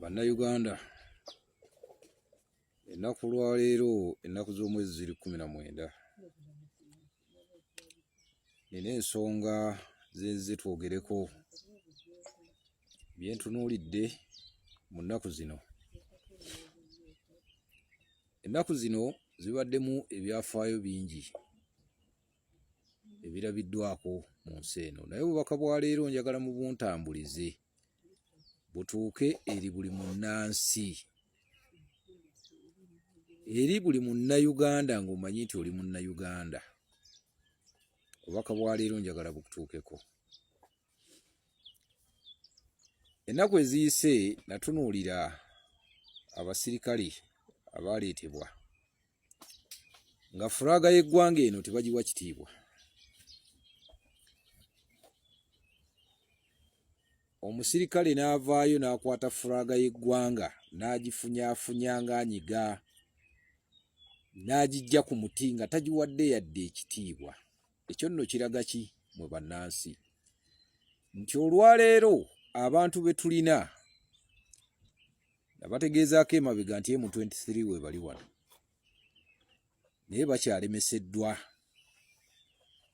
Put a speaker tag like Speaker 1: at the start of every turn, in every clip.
Speaker 1: bannayuganda ennaku lwaleero ennaku z'omwezi ziri kumi na mwenda nina ensonga zenzize twogereko byentunuulidde mu nnaku zino ennaku zino zibaddemu ebyafaayo bingi ebirabiddwako mu nsi eno naye obubaka bwa leero njagala mu buntambulize butuuke eri buli munnansi eri buli munnayuganda ng'omanyi nti oli munnayuganda obubaka bwa leero njagala bukutuukeko ennaku eziyise natunuulira abasirikale abaaleetebwa nga furaga y'eggwanga eno tebagiwa kitiibwa. Omusirikale n'avaayo n'akwata furaga y'eggwanga n'agifunyaafunya ng'anyiga n'agiggya ku muti nga tagiwadde yadde ekitiibwa. Ekyo nno kiraga ki mwe bannansi? Nti olwaleero abantu be tulina nabategeezaako emabega nti emu 23 webali wano naye bakyalemeseddwa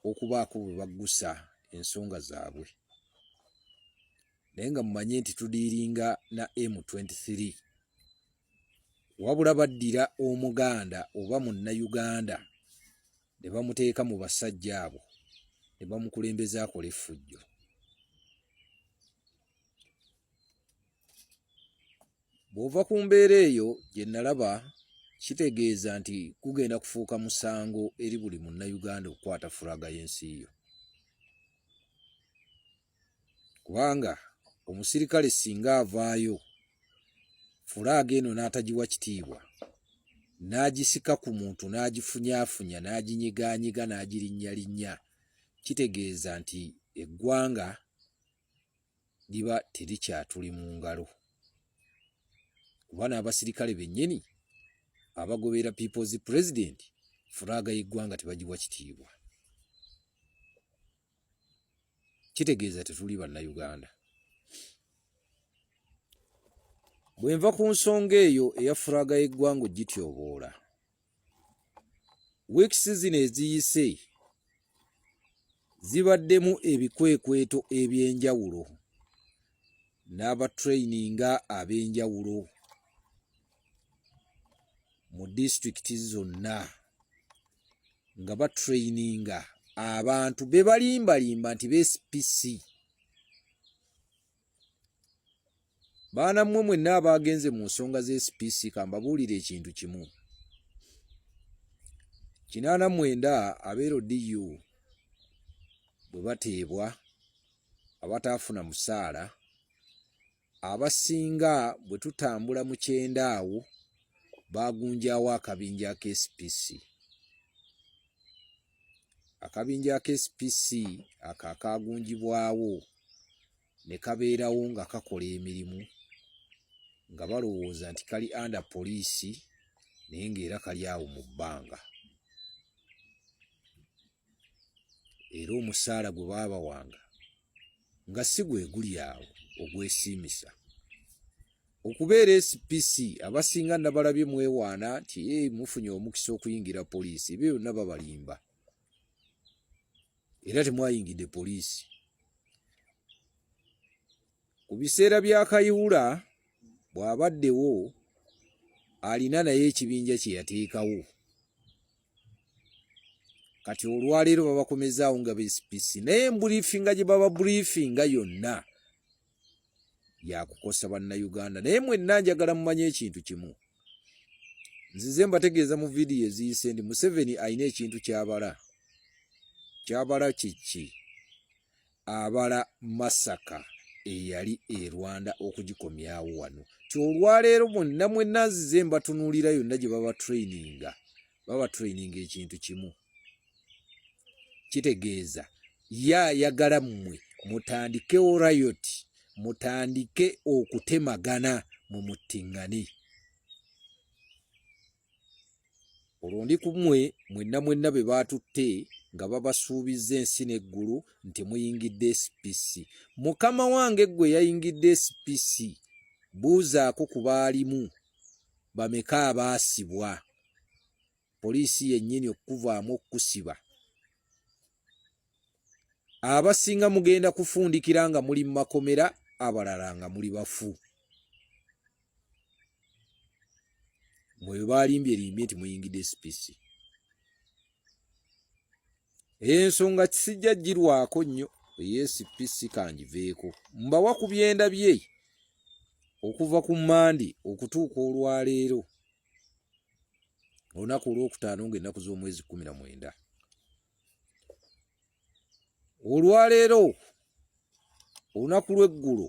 Speaker 1: okubaako bwe baggusa ensonga zaabwe naye nga mumanye nti tudiiringa na emu 23 wabula baddira omuganda oba munnayuganda ne bamuteeka mu basajja abo ne bamukulembeza akola effujjo bw'ova ku mbeera eyo gye nalaba kitegeeza nti kugenda kufuuka musango eri buli munnayuganda okukwata fulaga y'ensi yo kubanga omusirikale singa avaayo fulaaga eno n'atagiwa kitiibwa n'agisika ku muntu n'agifunyaafunya n'aginyigaanyiga n'agirinnyalinnya kitegeeza nti eggwanga liba terikyatuli mu ngalo kuba n'abasirikale bennyini abagoberera peoples president furaaga y'eggwanga tebagiwa kitiibwa kitegeeza tetuli bannayuganda bwe nva ku nsonga eyo eya furaaga y'eggwanga ogityoboola weeks zino eziyise zibaddemu ebikwekweto eby'enjawulo n'abatrayininga ab'enjawulo mu disitulikiti zonna nga batrayininga abantu be balimbalimba nti bcpc baana mmwe mwenna abaagenze mu nsonga z'SPC kambabuulire ekintu kimu kinaana mwenda abeero DU bwe bateebwa abataafuna musaala abasinga bwe tutambula mu kyenda awo baagunjaawo akabinja k'SPC. akabinja aka SPC ako akaagunjibwawo ne kabeerawo nga kakola emirimu nga balowooza nti kali under poliisi naye ng'era kali awo mu bbanga era omusaala gwe baabawanga nga si gwe guli awo ogwesiimisa okubeera spc abasinga nabalabye mwewaana nti ee mufunye omukisa okuyingira poliisi ebyo byonna babalimba era temwayingidde poliisi ku biseera bya kayiwula bw'abaddewo alina naye ekibinja kye yateekawo kati olwaleero babakomezaawo nga bcpc naye embulifinga gye baba bulifinga yonna yakukosa bannayuganda naye mwenna njagala mumanye ekintu kimu nzize mbategeeza mu vidiyo eziyise ndi museveni alina ekintu kyabala kyabala kiki abala masaka eyali e rwanda okugikomyawo wano kyolwaleero bonna mwenna nzize mbatunuulira yonna gye baba traininga baba traininga ekintu kimu kitegeeza ye ayagala mmwe mutandikewo rayot mutandike okutemagana mu muttingane olwo ndi ku mmwe mwenna mwenna be baatutte nga babasuubizza ensi n'eggulu nti muyingidde spc mukama wange ggwe yayingidde spc buuzaako ku baalimu bameka abaasibwa poliisi yennyini okukuvaamu okukusiba abasinga mugenda kufundikira nga muli mu makomera abalala nga muli bafu mweyo baalimbye limbye nti muyingidde spc eyensonga kisijja girwako nnyo eyespc kangiveeko mbawa ku byenda bye okuva ku mandi okutuuka olwaleero olunaku olwokutaano ngaennaku z'omwezi kumi na mwenda olwaleero olunaku lw'eggulo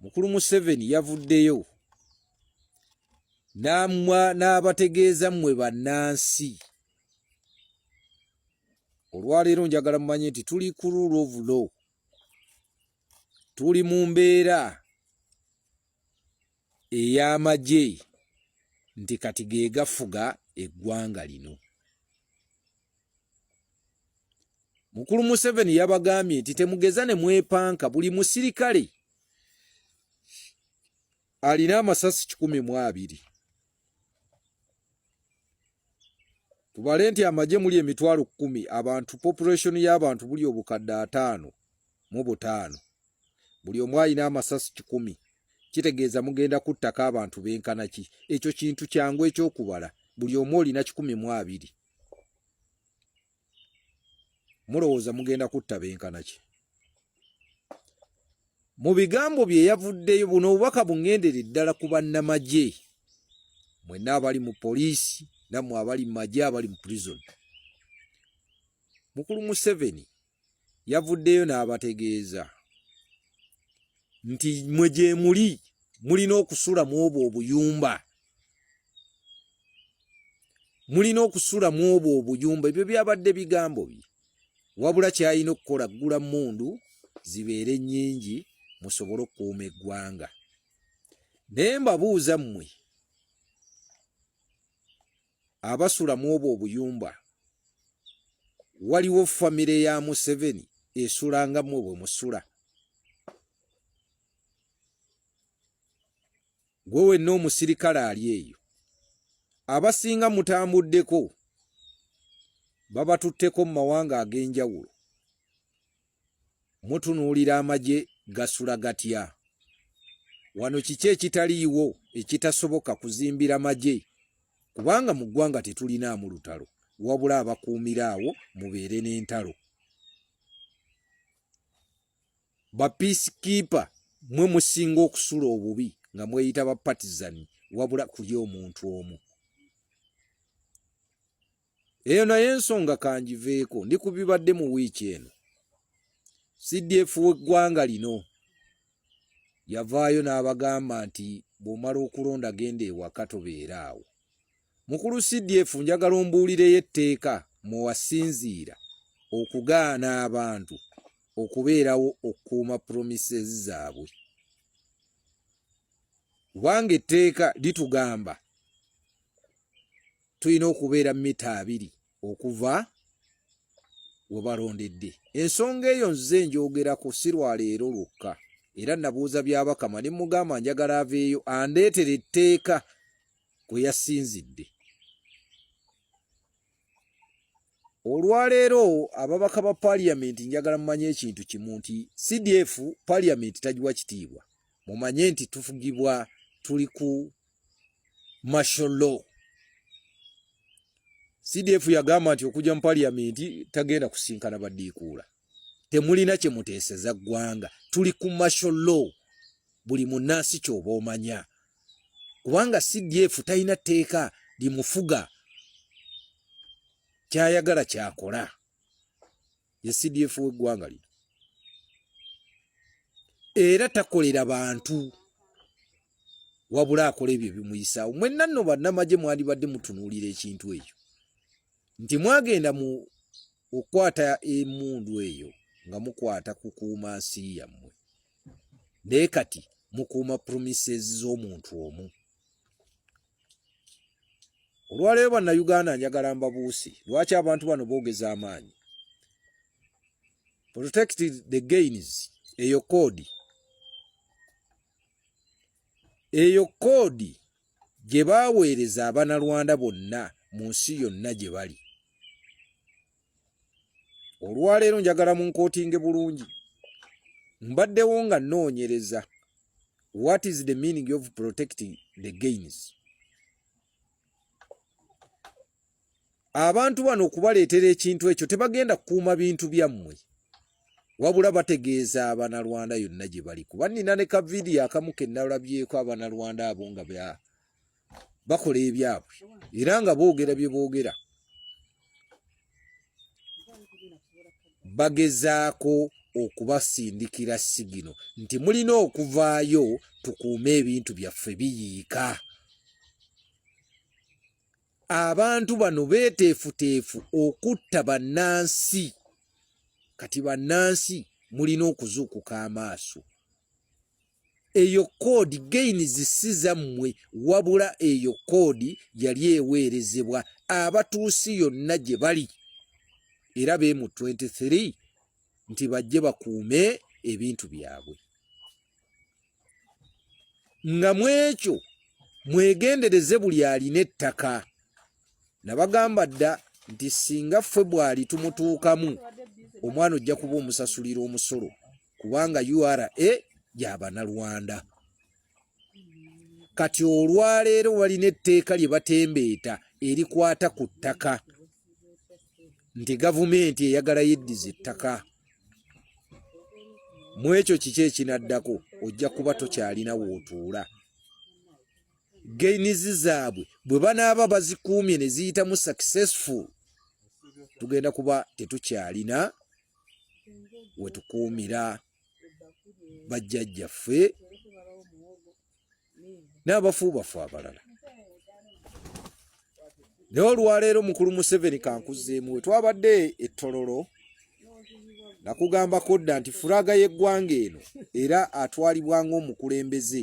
Speaker 1: mukulu museveni yavuddeyo n'abategeeza mmwe bannansi olwaleero njagala mumanye nti tuli ku rule of law tuli mu mbeera ey'amagye nti kati ge gafuga eggwanga lino. Mukulu Museveni yabagambye nti temugeza ne mwepanka buli musirikale alina amasasi kikumi mu abiri. tubale nti amagye muli emitwalo kkumi abantu population y'abantu buli obukadde ataano mu butaano buli omu alina amasasi kikumi kitegeeza mugenda kuttako abantu benkana ki ekyo kintu kyangu ekyokubala buli omu olina kikumi mu abiri mulowooza mugenda kutta benkana ki mu bigambo bye yavuddeyo buno obubaka bungendere ddala ku bannamagye mwenna abali mu poliisi nammwe abali mu magye abali mu prison mukulu museveni yavuddeyo n'abategeeza nti mwe gyemuli mulina okusula mu obwo obuyumba mulina okusula mu obwo obuyumba ebyo byabadde bigambo bye wabula kyalina okukola ggula mundu zibeere nnyingi musobole okukuuma eggwanga naye mbabuuza mmwe abasula mu obwo obuyumba waliwo famire ya museveni esula nga mmwe bwe musula Gwe wenna omusirikale ali eyo, abasinga mutambuddeko, babatutteko mu mawanga ag'enjawulo. Mutunuulira amagye gasula gatya? Wano kiki ekitaliiwo ekitasoboka kuzimbira magye? Kubanga mu ggwanga tetulinaamu lutalo, wabula abakuumira awo mubeere n'entalo. ba peace keeper mwe musinga okusula obubi nga mweyita ba partisan wabula kuli omuntu omu eyo naye ensonga kanjiveeko ndi kubibadde mu wiiki eno cdf weggwanga lino yavaayo n'abagamba nti bw'omala okulonda genda ewaka tobeera awo Mukulu CDF njagala ombuulireyo etteeka mwe wasinziira okugaana abantu okubeerawo okukuuma promises zaabwe kubanga etteeka litugamba tulina okubeera mita abiri okuva webalondedde ensonga eyo nze njogerako sirwaleero lwokka era nabuuza byabakama ne mugamba njagala aveeyo andeetere etteeka kwe yasinzidde olwaleero ababaka ba paliyamenti njagala mumanye ekintu kimu nti cdf paliyamenti tagiwa kitiibwa mumanye nti tufugibwa tuli ku martial law CDF yagamba nti okuja mu parliament tagenda kusinkana badiikuula temulina kye muteeseza ggwanga tuli ku martial law buli munnansi kyoba omanya kubanga CDF talina tteeka limufuga kyayagala kyakola ye CDF w'eggwanga lino era takolera bantu wabula akola ebyo bimuyisaawo mwenna nno bannamagye mwandibadde mutunuulira ekintu ekyo nti mwagenda mu okukwata emundu eyo nga mukwata kukuuma nsi yammwe naye kati mukuuma promises z'omuntu omu olwaleero bannayuganda njagala mbabuusi lwaki abantu bano boogeza amaanyi protect the gains eyo koodi eyo koodi gye baaweereza abanalwanda bonna mu nsi yonna gye bali olwaleero njagala mu nkootinge bulungi mbaddewo nga nnoonyereza what is the meaning of protecting the gains abantu bano okubaleetera ekintu ekyo tebagenda kukuuma bintu byammwe wabula bategeeza abanalwanda yonna gye bali kuba nnina ne kavidiyo akamu ke nalabyeko abanalwanda abo nga bakola ebyabwe era nga boogera bye boogera bagezaako okubasindikira sigino nti mulina okuvaayo tukuume ebintu byaffe biyiika abantu bano beeteefuteefu okutta bannansi kati bannansi mulina okuzuukuka amaaso eyo koodi gaini zisi zammwe wabula eyo koodi yali eweerezebwa abatuusi yonna gye bali era be mu 23 nti bajje bakuume ebintu byabwe nga mwekyo mwegendereze buli alina ettaka nabagamba dda nti singa ffe bwali tumutuukamu omwana ojja kuba omusasulira omusolo kubanga ura gyabanalwanda kati olwaleero walina etteeka lye batembeeta erikwata ku ttaka nti gavumenti eyagala yeddiza ettaka mu ekyo kiki ekinaddako ojja kuba tokyalina wootuula gainizi zaabwe bwe banaaba bazikuumye ne ziyitamu successful tugenda kuba tetukyalina we tukuumira bajjajjaffe n'abafu bafu abalala naye olwaleero mukulu museveni kankuzeemu we twabadde ettololo nakugambako dda nti furaga y'eggwanga eno era atwalibwa ng'omukulembeze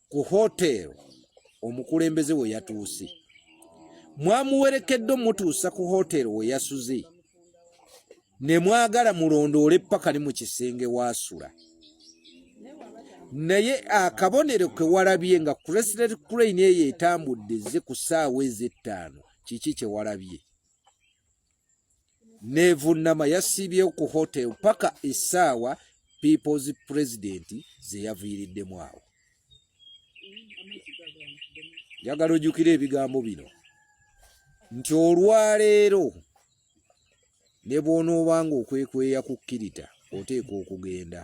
Speaker 1: ku hotel omukulembeze we yatuuse mwamuwerekedde omutuusa ku hotel we yasuze ne mwagala mulondoole ppaka ne mu kisenge waasula naye akabonero ke walabye nga creslet crane eyo etambudde ze ku ssaawa ez'ettaano kiki kye walabye nevunnama yasiibyewo ku hotel paka essaawa peoples president zeyaviiriddemu awo njagala ojjukira ebigambo bino nti olwaleero ne bw'onoobanga okwekweya ku kkirita oteekwa okugenda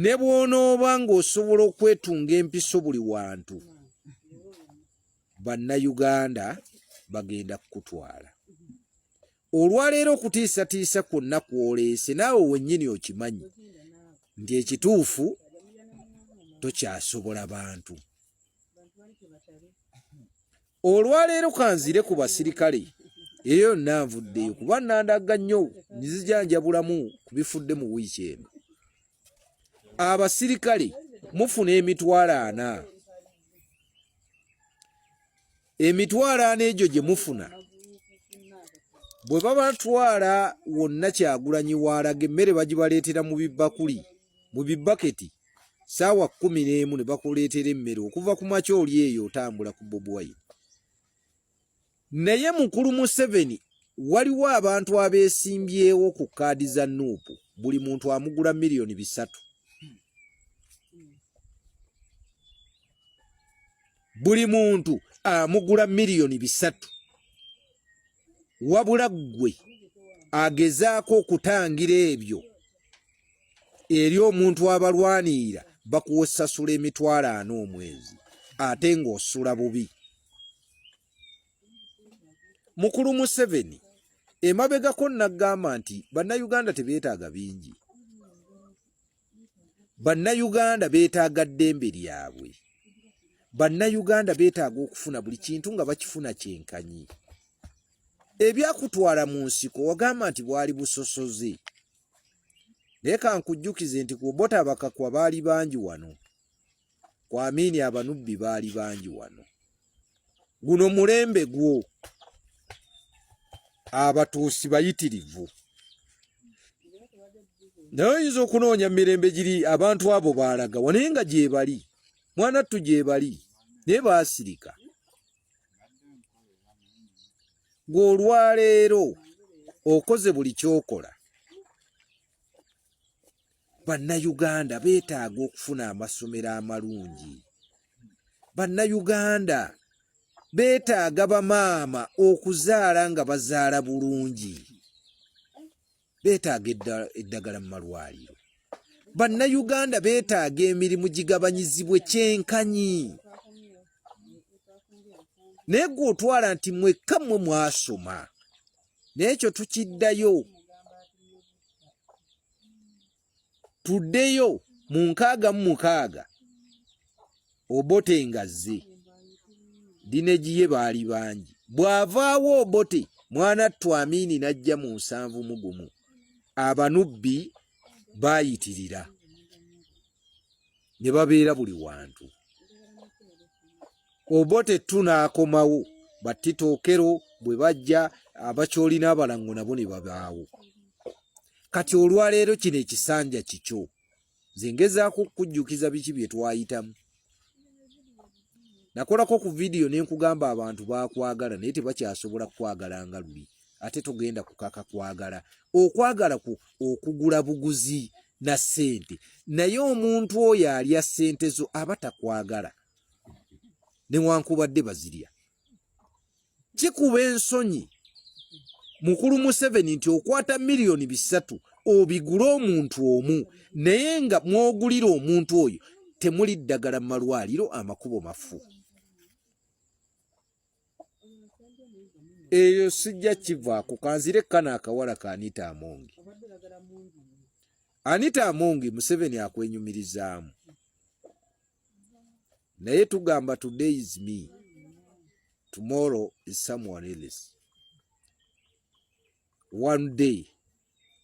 Speaker 1: ne bw'onooba ng'osobola okwetunga empiso buli wantu bannayuganda bagenda kukutwala olwaleero okutiisatiisa kwonna kwoleese naawe wennyini okimanyi nti ekituufu tokyasobola bantu olwaleero kanzire ku basirikale eyo yonna nvuddeyo kuba nandagga nnyo nzijanjabulamu ku bifudde mu wiiki eno abasirikale mufuna emitwalo ana emitwalo ana egyo gye mufuna bwe babatwala wonna kyagulanyi waalaga emmere bagibaleetera mu bibakuli mu bibaketi saawa kumi n'emu ne bakuleetera emmere okuva ku makya oli eyo otambula ku bobuwayi Naye mukulu Museveni waliwo abantu abeesimbyewo ku kaadi za nuupu buli muntu amugula miliyoni bisatu buli muntu amugula miliyoni bisatu wabula ggwe agezaako okutangira ebyo eri omuntu abalwanirira bakuwosasula emitwalo ana omwezi ate ng'osula bubi mukulu museveni emabegako nagamba nti bannayuganda tebeetaaga bingi bannayuganda beetaaga ddembe lyabwe bannayuganda beetaaga okufuna buli kintu nga bakifuna kyenkanyi ebyakutwala mu nsiko wagamba nti bwali busosoze naye kankujjukize nti ku bota bakakwa baali bangi wano kwamini abanubbi baali bangi wano guno mulembe gwo abatuusi bayitirivu naye oyinza okunoonya mirembe giri abantu abo baalaga wanaye nga gyebali mwana ttu gyebali naye baasirika gweolwaleero okoze buli kyokola bannayuganda beetaaga okufuna amasomero amalungi bannayuganda beetaaga bamaama okuzaala nga bazaala bulungi beetaaga eddagala mu malwaliro bannayuganda beetaaga emirimu gigabanyizibwe kyenkanyi naye gwe otwala nti mwekka mmwe mwasoma n'ekyo tukiddayo tuddeyo mu nkaaga mu mukaaga obote ngazze dinegiye baali bangi bw'avaawo obote mwana twamiini n'ajja mu nsanvu mugumu abanubbi baayitirira ne babeera buli wantu Obote tu n'akomawo batita okero bwe bajja abakyoli n'abalango nabo ne babaawo kati olwaleero kino ekisanja kikyo nze ngezaako okukujjukiza biki bye twayitamu nakolako ku vidiyo ne nkugamba abantu bakwagala naye tebakyasobola kukwagala nga luli ate togenda kukaka kwagala okwagala ku okugula buguzi na ssente naye omuntu oyo alya ssente zo aba takwagala newankubadde bazirya kikuba ensonyi mukulu museveni nti okwata miliyoni bisatu obigule omuntu omu naye nga mwogulira omuntu oyo temuli ddagala mu malwaliro amakubo mafu eyo sijja kivaako kanzire kana akawala ka anita amongi anita amongi museveni akwenyumirizaamu naye tugamba today is me tomorrow is someone else one day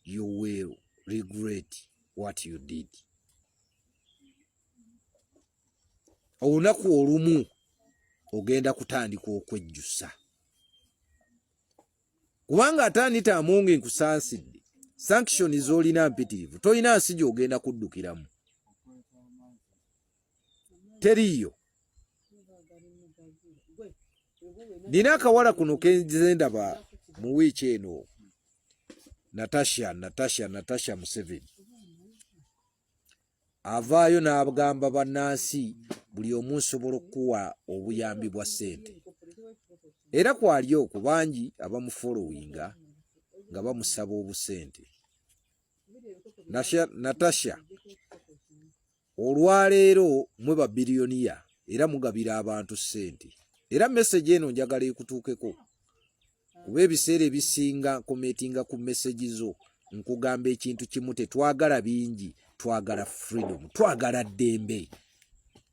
Speaker 1: you will regret what you did olunaku olumu ogenda kutandika okwejjusa kubanga atandita amonge nkusansidde sanction zolina mpitirivu tolina nsi gyogenda kuddukiramu teriiyo nina akawala kuno kenzendaba mu wiiki eno natasha natasha natasha museveni avaayo n'abgamba bannansi buli omu nsobola okukuwa obuyambi bwa ssente era kwali oku bangi abamufolowinga nga bamusaba obusente natasha olwaleero mwe babiliyoniya era mugabira abantu ssente era meseji eno njagala ekutuukeko kuba ebiseera ebisinga nkometinga ku mesegi zo nkugamba ekintu kimu tetwagala bingi twagala freedom twagala ddembe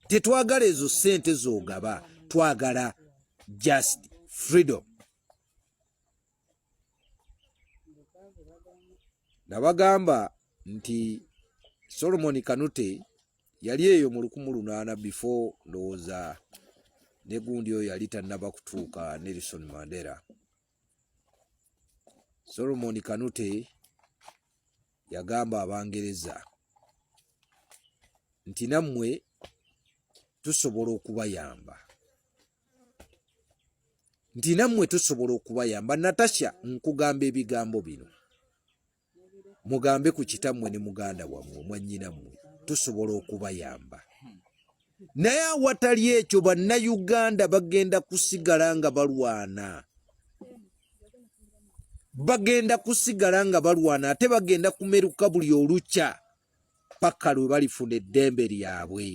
Speaker 1: tetwagala ezo sente zogaba twagala just freedom nabagamba nti solomoni kanute yali eyo mu lukumu lunaana before ndowooza ne gundi oyo yali tannaba kutuuka Nelson Mandela. Solomon Kanute yagamba Abangereza nti nammwe tusobola okubayamba nti nammwe tusobola okubayamba natasha nkugamba ebigambo bino mugambe ku kitammwe ne muganda wammwe mwannyina mmwe tusobola okubayamba naye awatali ekyo bannayuganda bagenda kusigala nga balwana bagenda kusigala nga balwana ate bagenda kumeruka buli olukya paka lwe balifuna eddembe lyabwe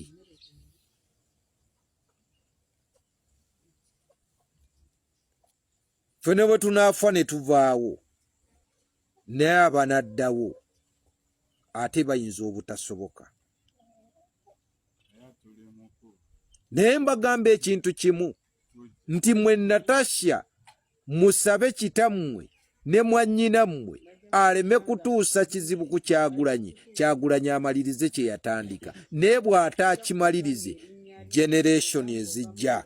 Speaker 1: ffe ne bwe tunaafa ne tuvaawo naye abanaddawo ate bayinza obutasoboka naye mbagamba ekintu kimu nti mwe natasha musabe kitammwe ne mwannyinammwe aleme kutuusa kizibu ku kyagulanyi kyagulanyi amalirize kye yatandika naye bw'ataakimalirize generation ezijja